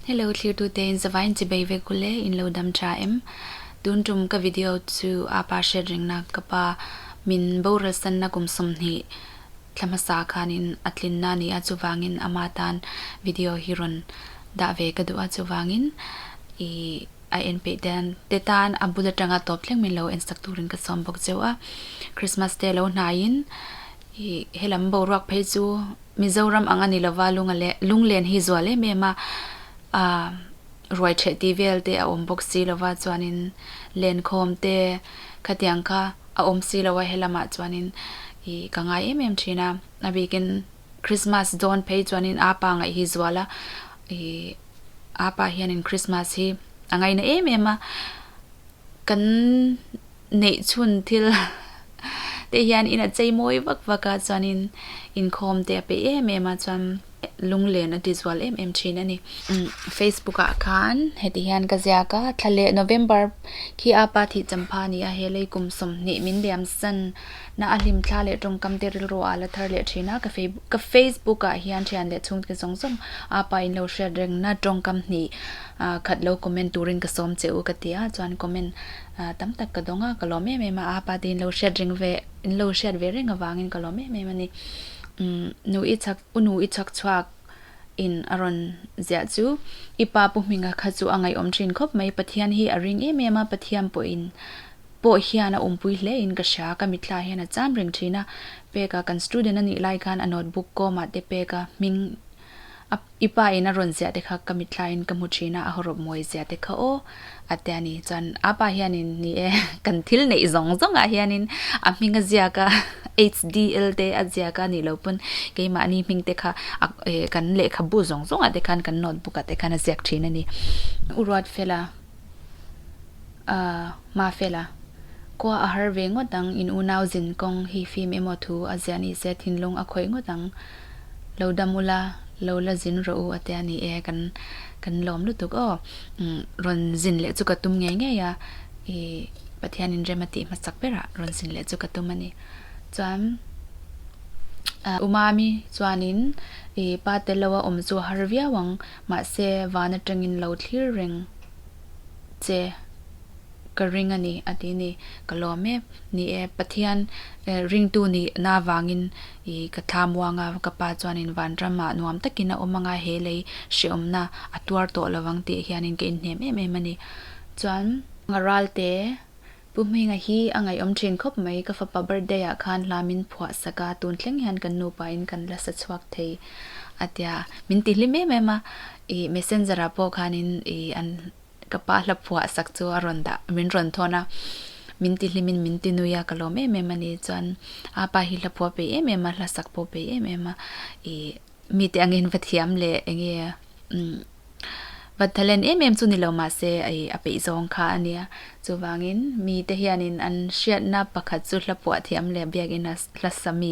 Hello thlirtu te in zavai in chibei vek u le in lo dam tha em? Tun tum ka video chu a pa hriat reng nak ka pa min boral san na kum sawmhnih thla hmasa khan in a tlin na ni a chuvang in ama tan video hi rawn dah ve ka duh a chuvang in i a en peih dan te tan a bul atang a tawp thleng min lo en sak tur in ka sawm bawk cheu a Christmas te lo hnai in i helam boruak phei chu Mizoram ang a ni lova lunga le lunglen hi zual em em a ruai theh tih vel te a awm bawk si lova chuanin lenkhawm te khatiang kha a awm si lo a he lamah chuanin i ka ngai em em thin a a bikin Christmas dawn phei chuanin a pa ngaih hi zual a i a pa hianin Christmas hi a ngaina em em a kan neih chhun thil te hian in a chei mawi vak vak a chuanin inkhawm te a pe em em a chuan lunglen a tizual em em thin a ni. Facebook ah khan heti hian ka ziak a, thla leh November khi a pa thih champha a ni a, he lei kum sawm hnih min liam san na a hlim thla leh tawngkam te rilru a la thar leh thin a, ka Facebook ah hian thian leh chhung te zawng zawng a pa in lo hriat reng na tawngkam hnih khat lo comment turin ka sawm che u ka ti a chuan comment A, tam tak ka dawng a, ka lawm em em a, a pa te in lo hriat reng ve, in lo hriat ve reng avangin ka lawm em em a ni. Umm, nu i chhak, u nu i chhak chhuak in a rawn ziah chu i pa pu hming a kha chu a ngaihawm thin khawp mai, Pathian hi a ring em em a, Pathian pawh in, pawh hian a awmpui hle in ka hria, ka mitthla hian a cham reng thin a, Pek a, kan student a nih lai khan a notebook kawmah te Pek a hming, A, I pa in a rawn ziah te kha ka mittlai in ka hmu thin a, a haw rawp mawi zia te kha aw, a ti a ni. Chuan a pa hian in, Ni e, kan thil neih zawng zawng ah hian in a hming a ziak a, HDL te a ziak a nih loh pawn keimahni hming te kha a, e, kan lehkhabu zawng zawng ah te khan kan notebook ah te khan a ziak thin a ni. U Ruatfela. a hma fel a, khua a har ve ngawt ang, in unau zin kawng hi fim emaw thu a ziah ni se thinlung a khawih ngawt ang, lo dam u la, lo la zin rawh u a ti a ni e, kan kan lawm lutuk aw, rawn zin leh chu ka tum ngei ngei a, i Pathianin rem a tih hma chak ber a rawn zin leh chu ka tum a ni. Chuan Umami chuanin i pa Teloa awm chu a har viau ang, Mahse, van atangin lo thlir reng che ka ring a ni, a ti ni. Ka lawm e, ni e, Pathian ringtu nih na vangin i ka thlam uang a, ka pa chuanin van ramah nuam takin a awm anga he lei hrehawmna a tuar tawh lo ang tih hianin ka inhnem em em a ni. Chuan. Raltê Pu Hmenga hi a ngaihawm thin khawp mai, ka fapa birthday ah khan hla min phuah sak a, tun thleng hian kan nupa in kan la sa chhuak thei a ti a, min ti hlim em em a, i messenger ah pawh khan in i an ka pa hla phuah sak chu a rawn dah min rawn thawn a, min ti hlim in min ti nui a ka lawm em em a ni, chuan a pa hi hla phuah pe em em a, hla sak pawh pe em em a, i mite angin va thiam leh enge. Vathalen em em chu ni lo mahse hei a peih zawng kha a nia. Chuvangin mite hianin an hriatna pakhat chu hla puah thiam leh biakin a hla sa mi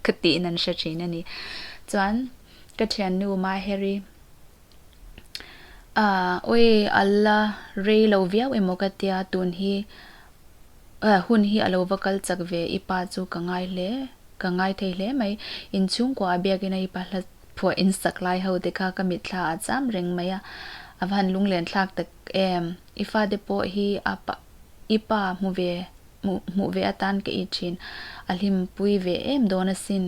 ka tiin an hre thin a ni. Chuan ka thiannu Maheri Awi a la rei lo viau em aw ka tia tun hi hun hi a lo va kal chak ve i pa chu ka ngai hle ka ngai thei hle mai. Inchhungkua a biakin a i pa hla Phuah in sak lai ho te kha ka mitthlaah a cham reng mai a, a va han lunglen thlak tak em? I fate pawh hi a i pa hmu ve hmuh ve atan ka i thin a hlim pui ve em dawn a sin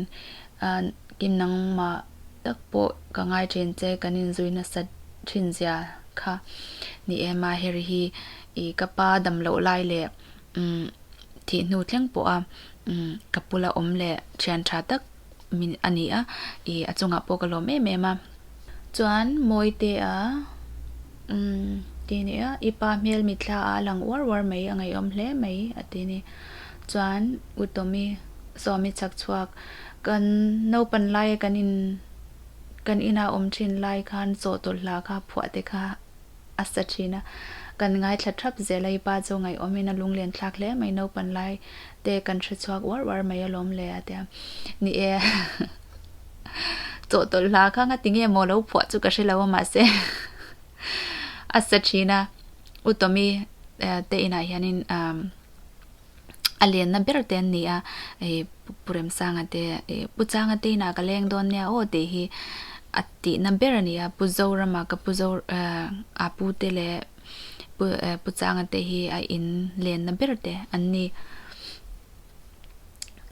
kin nangmah tak pawh ka ngai thin che kan in zui nasa thin zia kha ni em a heri hi i ka pa damloh lai leh thih hnu thleng pawh a ka pula awm leh thian tha tak min a ni a, i a chungah pawh ka lawm em em a. Chuan Mawite a umm ti a ni a, i pa hmel mitthla a lang uar uar mai, a ngaihawm hle mai a ti a ni. Chuan U Tawmi, Swami chak chhuak, kan naupan laia kan in kan inah awm thin lai khan chawhtawlh hla kha phuah te kha a sa thin a. Kan ngaithla thap zel a, i pa chu ngaihaawmin a lunglen thlak hle mai, naupan lai te kan hrechhuak uar uar mai alawm le a ti a, ni e. Chaw tawlh hla kha nga ti nge maw lo phuah chu ka hre lo a mahse a sa thin a, u Tommy te inah hianin umm. a lenna ber te an ni a, ih, Pu Remsanga te, ih, Pu Changa te inah ka leng dawn nia aw tih hi a tihna ber a ni a, Pu Zorama, ka Pu Zora, eh, a pu te leh Pu, eh, Pu Changa te hi a in lenna ber te an ni.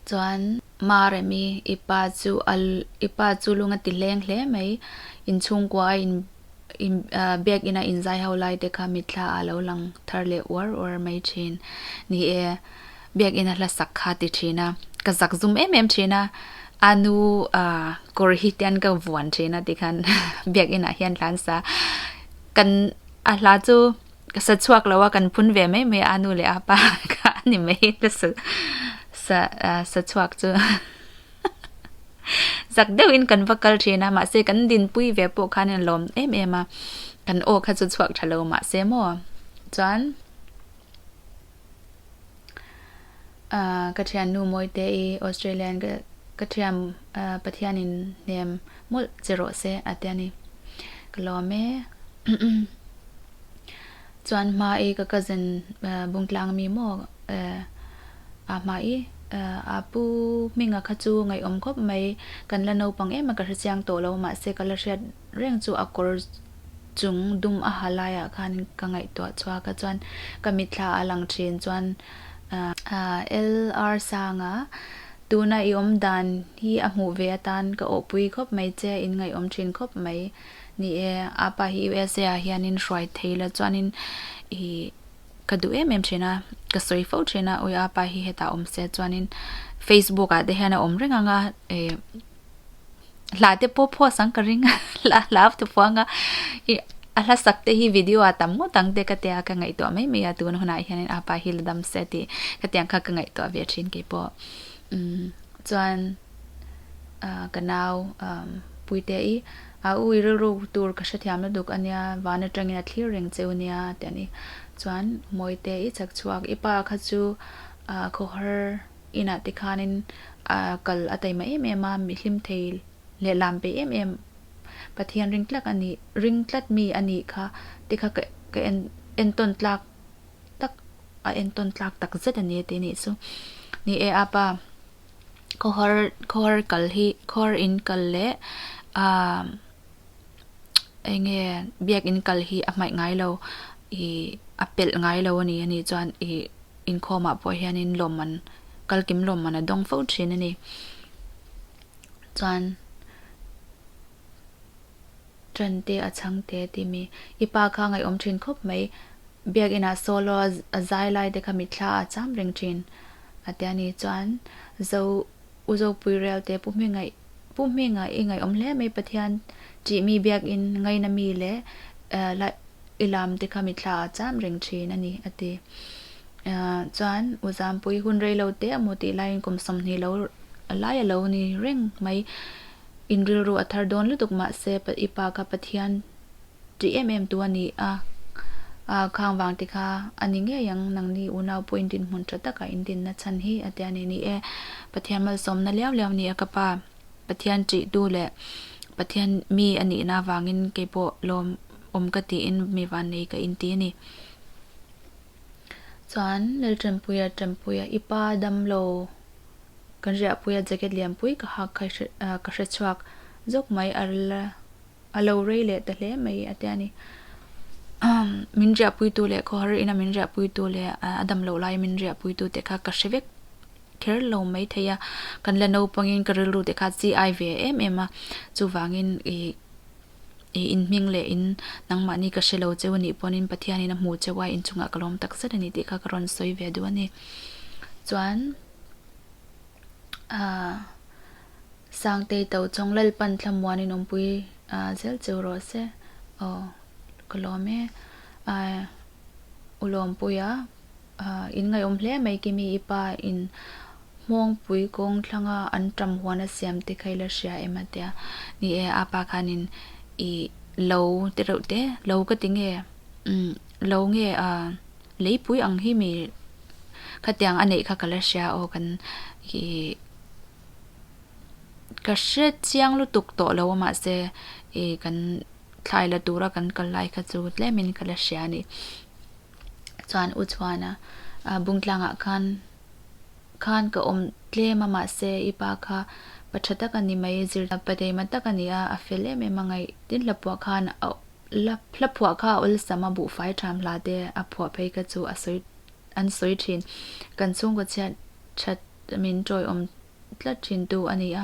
Chuan. Mah rem i, i pa chu a, i pa chu lung a ti hleng hle mai. Inchhungkua a in, in, biak ina inzai ho lai te kha mitthla a lo lang thar leh uar uar mai thin. Ni e, biak ina hlasak kha ti thin a, ka zak zum em em thin a, a nu a kawr hi tian ka vuan thin a ti khan biak inah hian hlansa kan, a hla chu ka sa chhuak lo a kan phun ve mai mai a anu leh apa kha ani mai ka sa sa sa chhuak chu zak deuh in kan va kal thin a ma se kan din pui ve po khan in lom em em a kan o kha chu chhuak thalo ma se mo chuan Ka thiannu Mawite i Australia-in ka ka thiam a, Pathianin hnem mawlh che rawh se, a ti a ni. Ka lawm e. Chuan hma i ka cousin bung tlang mi maw a hma i a pu hminga kha chu ngaihawm khawp mai. Kan la naupang em a ka hre chiang tawh lo, mahse ka la hriat. Reng chu a kawr chung dum a ha laiah khan ka ngaihtuah chhuak a, chuan ka mitthla a lang thin chuan a LR Sanga, tuna i awm dan hi a hmuh ve atan ka awhpui khawp mai che, in ngaihawm thin khawp mai ni e, apa hi usa-ah hianin hruai thei la chuanin i Ka duh em em thin a, ka sawi fo thin a, ui a pa hi hetah awm se chuanin Facebook ah te hian a awm reng ang a, e hla te pawh post ang ka ring a, hla hla a thufuang ang a, i a hla sak te hi video ah tam ngawt ang te ka tia ka ngaihtuah mai mai a, tun hunah hian a pa hi la dam se tih ka tiang kha ka ngaihtuah ve thin kei pawh, umm chuan. Ahh ka nau umm Puite i a u i rilru tur ka hrethiam la duk ania, van atangin a thlir reng che u nia ti ani. Chuan Mawite i chak chhuak i pa kha chu ahh khawhar inah te khanin ahh kal a taima em em a, mi hlim thei leh lam pe em em Pathian ring tlak a nih ring tlat mi a nih kha te kha ka ka en entawn tlak tak a entawn tlak takzet ania tih a nih chu. Ni e apa. khawhar kal hi khawhar in kal leh umm eng nge biak in kal hi a hmaih ngai lo ih a pelh ngai lo a ni a nih chuan ih inkhawm ah pawh hian in lawm an kal kim lawm an a dawng fo thin a ni chuan. Tante a chhang tê a ti mi. I pa kha a ngaihawm ṭhin khawp mai. Biakinah solo a zai lai te kha mitthla a cham reng ṭhin a ti a ni chuan Zo, U Zopui relte Pu Hming a, Pu Hming a i ngaihawm hle mai Pathian ṭih mi biakin ngaina mi leh lai i lam te kha mitthla a cham reng ṭhin a ni a ti. Chuan U Zampui hun rei lo te a mu tih laiin kum sawmhnih lo, a laia lo ni reng mai. Inrilru a thar dawn lutuk mah se i pa kha Pathian tih em em tu a ni a, ah khang vang ti kha a ni ngei ang, nang ni unau pawh in dinhmun tha takah in dinna chhan hi a tia ni ni e. Pathian malsawmna liau liau ni a ka pa, Pathian tih tu leh Pathian mi a nihna avangin kei pawh lawm awm ka tiin mi van nei ka in ti a ni. Chuan Lalṭanpuia, Ṭanpuia, i pa dam lo kan ri ahpui a, jacket lianpui ka hak kha ka hre chhuak zawk mai a la a lo rei leh ta hle mai a ti a ni. Min ri apuitu leh khawhar ina min ri apuitu leh a dam loh laia min ri apuitu te kha ka hre vek kher lo mai thei a, kan la naupangin ka rilru te kha chi ai ve em em a, chuvangin i i inhming leh in nangmahni ka hre lo cheu anih pawnin Pathianin a hmuh cheu a, inchungah ka lawm takzet a ni tih kha ka rawn sawi ve duh a ni. Chuan Sangtei to chawng Lalpan Thlamuanin awmpui zel cheu rawh se, aw ka lawm e, ulawmpuia. In ngaihawm hle mai Kimi i pa in Hmawngpui kawng thlanga an ṭam huan a siam te kha ila hria em? a ti a. Ni e, a pa khan in i lo ti reuh te, lo ka ti nge? Umm, lo nge a, leipui ang hi mi khatiang a neih kha ka la hria aw kan i ka hre chiang lutuk tawh lo a mah se i kan thlai la tura kan kal lai kha chu tlem in ka la hria a ni. chuan u Chuana Bungtlangah khan khan ka awm tlem a mahse i pa kha pa tha tak a ni mai, zirtih pa deima tak a ni a, a fel em em a ngaih. Tin Hlapuah khan a la Hlapuah kha a awlsam a buhfai tham hlah te a phuah phei kha chu a sawi an sawi thin, kan chhungkaw chhiat that min tawiawm tlat thintu a ni a.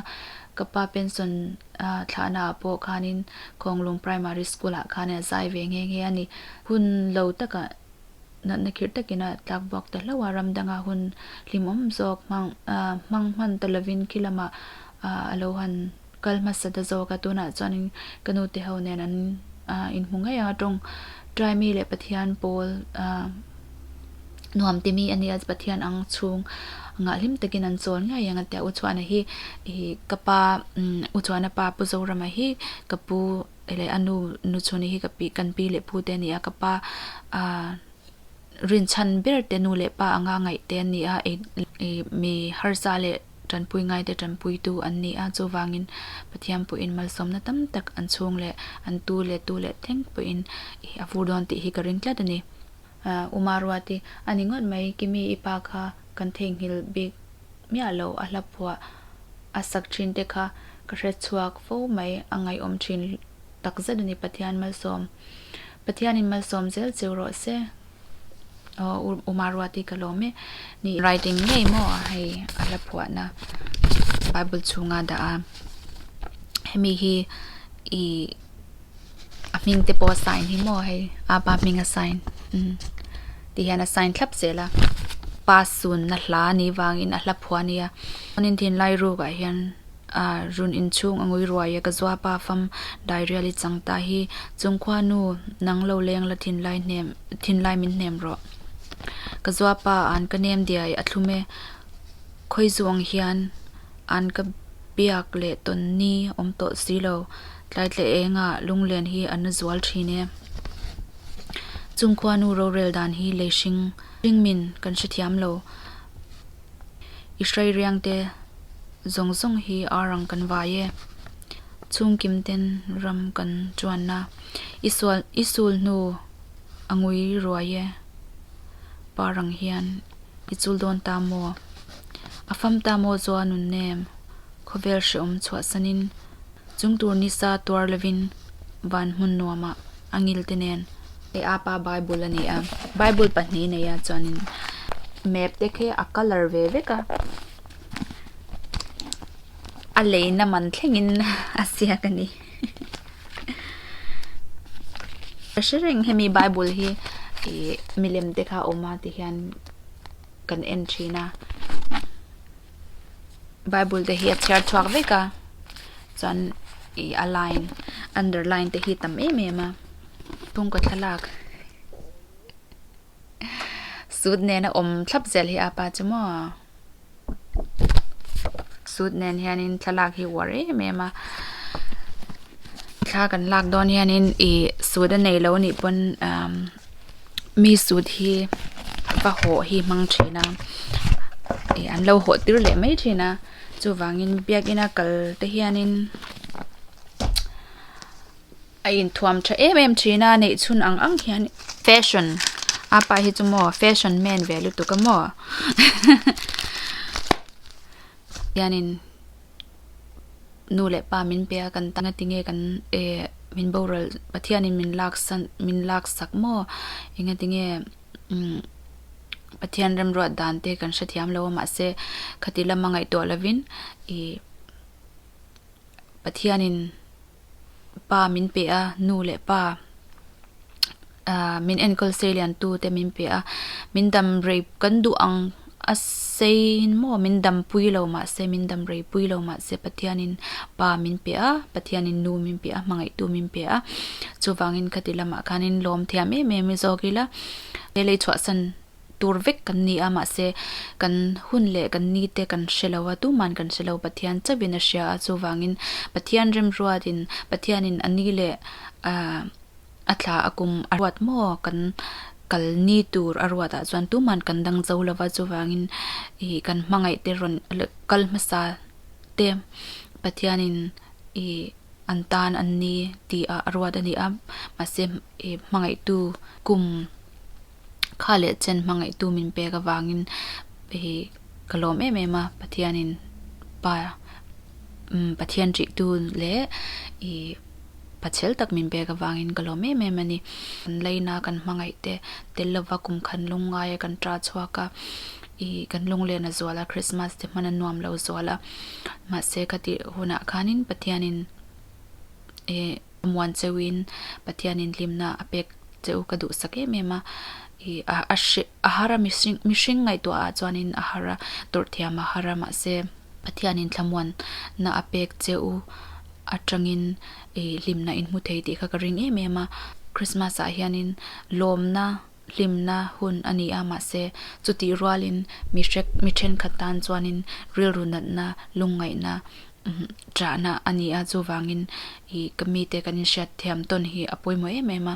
Ka pa pension thlahnaah pawh khanin Kawnglung Primary School-ah khanin a zai ve nghe nghe a ni. Hun lo takah natna khirh takin a tlak buak ta hlauh a, ram danga hun hlimawm zawk hmang hman ta lovin khilamah a lo han. Kal hmasa ta zawk a, tunah chuanin ka nute ho nen an in hmu ngei ang a tawng. Try mi leh Pathian pawl nuam timi a ni a, Pathian ang chhung ngaihlim takin an chawl ngei ang a tia. U Chuana hi ka pa, U Chuana pa Pu Zorama hi ka pu leh a nu, Nu Chuni hi ka pi, kan pi leh pu te a ni a. Ka pa rinchhan berte nu leh pa anga ngaihte a ni a, mi harsa leh tanpui ngai te tanpuitu an ni a, chuvangin Pathian pawhin malsawmna tam tak an chhung leh an tu leh tu leh thleng pawhin a vur dawn tih hi ka ring tlat a ni. Uma Ruati, A ni ngawt mai, Kimi i pa kha kan theihnghilh bik miah lo, a hla phuah a sak thin te kha ka hre chhuak fo mai, a ngaiawm thin takzet a ni, Pathian malsawm, Pathianin malsawm zel cheu rawh se. Aw u uma ruat hi ka lawm e ni in. Right eng ngei maw a hei a hla phuahna bible chhunga dah a hemi hi i a hming te pawh a sign hi maw hei a pa hming a sign umm ti hian a sign thlap zel a pa sunna hla nih vangin a hla phuah a nia chuanin thinlai ruk ah hian. A run inchhung a ngui ruai e ka zua pa fam Dairial i chang ta hi Chungkhua nu nang lo leng la thinlai hnem thinlai min hnem rawh Ka zua pa an ka nem dia i a thlum e Khawi zu ang hian an ka biak leh tawn ni awm tawh si lo Tlai tleh eng a lunglen hi a nu zual thin e Chungkhua nu rorel dan hi lei hring hring min kan hre thiam lo. I hreiriang te zawng zawng hi ar ang kan vai e. Chhungkim ten ram kan chuan a, i sual i sul hnu a ngui ruai e. Par ang hian i chul dawn ta maw, a fam ta maw chu a nunnem khawvel hreawm chhuahsanin. Chung tur ni sa tuar lovin van hmun nuamah a ngil te nen. Hei a pa Bible a ni a, Bible pahnih nei ah chuanin map te khi a colour ve vek a, a lei na man thlengin a ziak a ni. Ka hre reng hemi Bible hi milem te kha a awm a ti hian kan en thin a. Bible te hi a chhiar chhuak vek a, chuan ih a line underline te hi a tam em em a. Kawngka thlalak sut nena awm thlap zel hi apa chu maw a, sut nen hianin thlalak hi a uar em em a, thla kan lak dawn hianin ih sut a nei lo nih pawn umm. mi suit hi ka hawh hi hmang thin a ih an lo hawh tir leh mai thin a chuvangin biakina kal te hianin a inthuam tha em em thin a neih chhun ang ang hian fashion apa hi chu maw fashion men ve lutuk a maw hianin. nu leh pa min pe a kan tanga tinge kan e min boral Pathian in min lak san min lak sak maw enga tinge umm Pathian remruat dan te kan hre thiam lo a mahse khati lama ngaihtuah lovin i Pathian in pa min pe a nu leh pa ahh min enkawl sei lian tu te min pe a min dam rei kan duh ang a sei maw min dam pui lo mah se min dam rei pui lo mah se pathian in pa min pe a pathian in nu min pe a hmangaih tu min pe a chuvang in khati lamah khan in lawm thiam em em i zawk ila he lei chhuah san. tur vek kan ni a, mahse, kan hun leh kan ni te kan hre lo a, tuman kan hre lo, Pathian chauhin a hria a, chuvangin Pathian remruatin, Pathianin a ni leh a thla a kum a ruat maw kan kal ni tur a ruatah chuan tuman kan dang zo lo va, chuvangin i kan hmangaih te rawn kal hmasa te Pathianin i an tan an ni tih ah a ruat a ni a, mahse, i hmangaihtu kum. kha leh chen hmangaihtu min pek avangin hei ka lawm em em a pathianin pa umm pathian tih tu leh ih pa chhel tak min pek avangin ka lawm em em a ni laina kan hmangaih te tel lova kum khan lung ngaia kan ṭa chhuak a ih kan lunglena zual a krismas te hmana nuam lo zual a mahse ka tih hunah khanin pathianin. ih muan cheuhin Pathianin hlimna a pek cheu ka duhsak em em a, ih a a hreh a har a mihring mihring ngaihtuah ah chuanin a har a, tawrh thiam a har a mahse, Pathianin thlamuan na a pek cheu atangin ih hlimna in hmu thei tih kha ka ring em em a, Krismas ah hianin lawmna hlimna hun a ni a, mahse, chutih rualin mi hrek, mi ṭhenkhat tan chuanin rilru natna, lungngaihna ṭahna a ni a, chuvangin i ka mite kan inhriat thiam tawn hi a pawimawh em em a.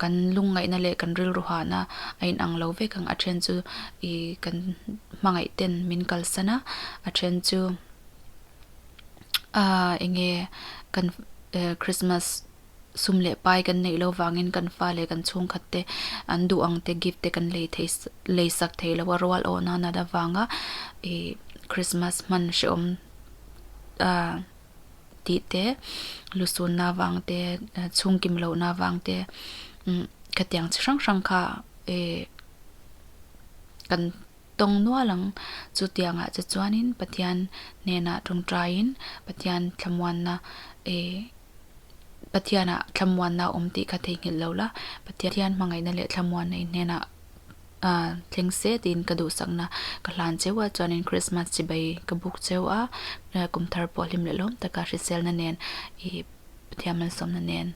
Kan lungngaihna leh kan rilru hahna a inang lo vek ang, a ṭhen chu i kan hmangaihten min kalsan a, a ṭhen chu enge kan Krismas. sum leh pai kan neih lo vangin kan fa leh kan chhungkhat te an duh ang te gift te kan lei thei lei sak thei lo a rual awh nan at avanga ih Christmas hman hrehawm a tih te lu sun na vang te chhung kim loh na vang te khatiang chi hrang hrang kha ih kan tawng nual ang chutiang ah che chuan in Pathian hnenah tawngtai in Pathian thlamuan na ih. Pathianah thlamuanna a awm tih ka theihnghilh lo la, Pathian hmangaihna leh thlamuan nei hnenah a thleng se tiin ka duhsakna ka hlan cheu a, chuanin Krismas chibai ka buk cheu a, kum thar pawh hlim lehlawm taka hriselna nen i Pathian malsawmna nen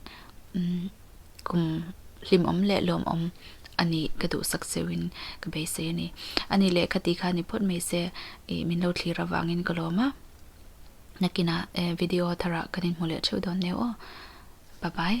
kum hlim awm leh lawm awm a ni ka duhsak cheuhin ka beisei a ni. A ni leh kha tih kha a ni phawt mai se i min lo thlir avangin ka lawm a. Nakinah video tharah kan inhmu leh theuh dawn neu aw. Bye bye.